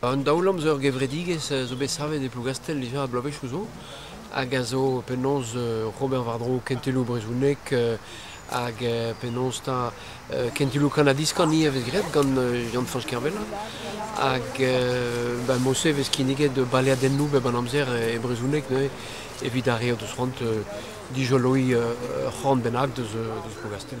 Un daol-amzer gevredigezh zo bet savet e Plougastell dija bloavezhioù zo hag a zo penaos ober war-dro kentelioù brezhonek hag penaos 'ta kentelioù kanad-iskan ivez vez graet gant Yann-Fañch Kervella hag ba mod-se vez kinniget baleadennoù bep an amzer e brezhoneg neuze evit ar re o deus c'hoant dijoloiñ ur c'horn bennak deus Plougastell.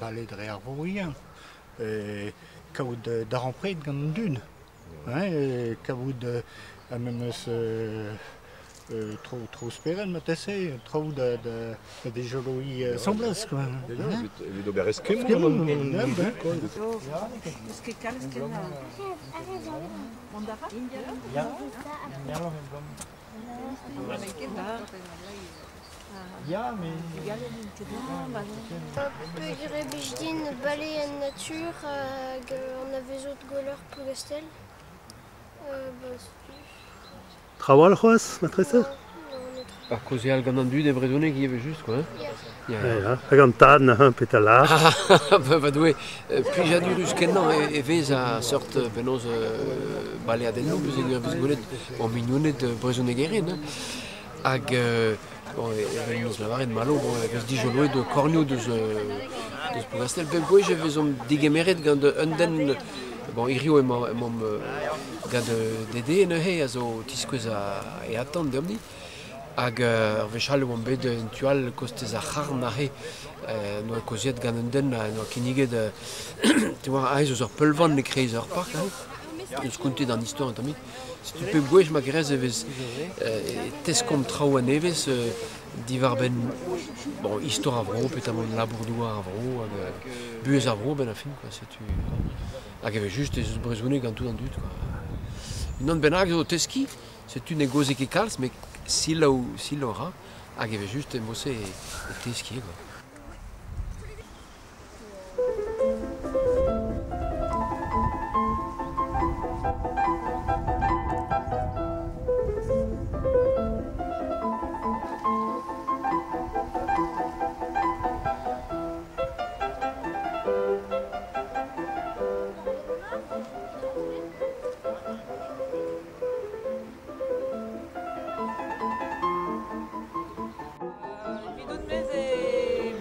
bale dre ar vorien, kaout darempred gant an dud, kavout memes tro, tro spered marteze, traoù da, da, da dejoloiñ asambles, quoi. Evit ober eskemmoù. Mont a ra? Ya, mais... Peogwir e blij din bale en natur hag an avezot gweller Plougastell. Trawalc'h c'hoazh, matresa? Ar kaozeal gant an dud e brezhoneg ivez just, quoi. Hag an tad neuze petra lâr Va Doue, plijanurus kenañ e vez a seurt penaos baleadennoù vez gwelet o mignoned brezhonegerien. Hag evel eus lavaret malo e vez dijoloet kornioù deus deus Plougastell. Bep gwech e vezomp digemeret gant un den bon hiziv emaomp gant Dede neuze a zo o tiskouez e atant deomp-ni. Hag ur wech all e oan bet en tu all kostez ar C'harn aze. En doa kaozeet gant un den en doa kinniget aes eus ur peulvan e-kreiz ur park aze. Deus kontet an istor un tammig. Setu pep gwech ma gres e vez e teskomp traoù a-nevez diwar-benn bon, istor ar vro, petamant labour-douar ar vro hag buhez ar vro a-benn ar fin. Setu hag evel just ez eus brezhoneg gant tout an dud. Unan bennak zo o teskiñ. Setu ne gozhe ket kalz met selaou selaou a ra hag evel-just emo-se o teskiñ eo.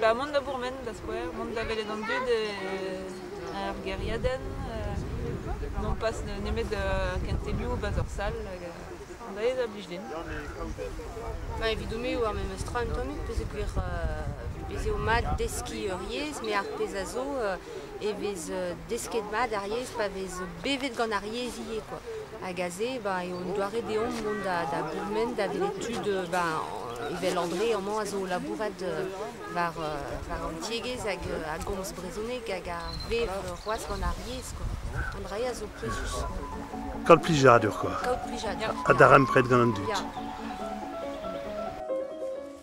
Ba, mont da bourmen, da skouer, mont da welet an dud ar geriadenn, non pas nemet ken temiou bas ur sal, an da a blij din. Ba, evidomp e oa memes tra un tammig, pezh e gwir, ez eo mat deskiñ ur yezh, met ar pezh a zo, e vez desket mat ar yezh pa vez bevet gant ar yezh ivez kwa. Hag aze ba eo un doare deomp mont da da gourmen da welet tud ba evel André amañ a zo o labourat war war an tiegezh hag a gomz brezhoneg hag a vev c'hoazh gant ar yezh kwa. An dra-se a zo pouezus. Kaout plijadur kwa. Kaout plijadur. Ha darempred gant an dud. Ya.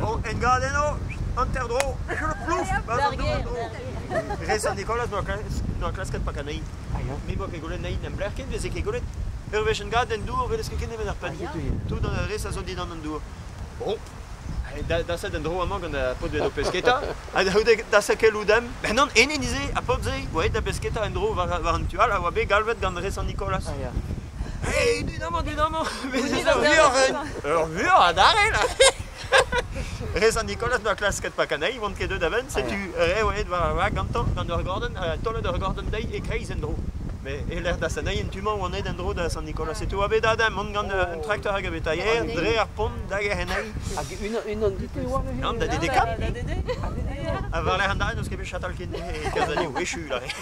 Bon, engadenno, hanter-dro, plouf, Rez an Nikolaz doa klasket pak anezhi. Me boa ket golet nahi n'em blec'h ken, veze ket golet. Ur wech engadenn dour, welez ket ken nemet ar penn. Tout an rez a zo dindan an dour. Bon, da set en dro amañ gant a pod o pesketa. Ha da sekel oudem. Ben non, ene nize, a pod se, oa da pesketa en dro war an tu all, a oa bet galvet gant rez an Nikolaz. Hey, dit amañ, dit amañ. Ur vuoc'h adarre, là Rez an Nikolaz doa klasket pa kanei, vont ket deuet a-benn, setu re oet war ar vag gantañ, gant ur gorden, uh, taolet ur gorden dezhi e-kreiz en-dro. Mais e-lec'h da saneil en tu-mañ oan aet en-dro da Sant Nikolaz, setu oa bet aze, mont gant euh, un trakteur hag a betailher, dre ar pont dag er c'henei. Hag unan, unan dit e oa neuze? Nann, da dedekad. Ha war-lerc'h an dare n'eus ket bet chatal ken e kerzh aze, wechu, là.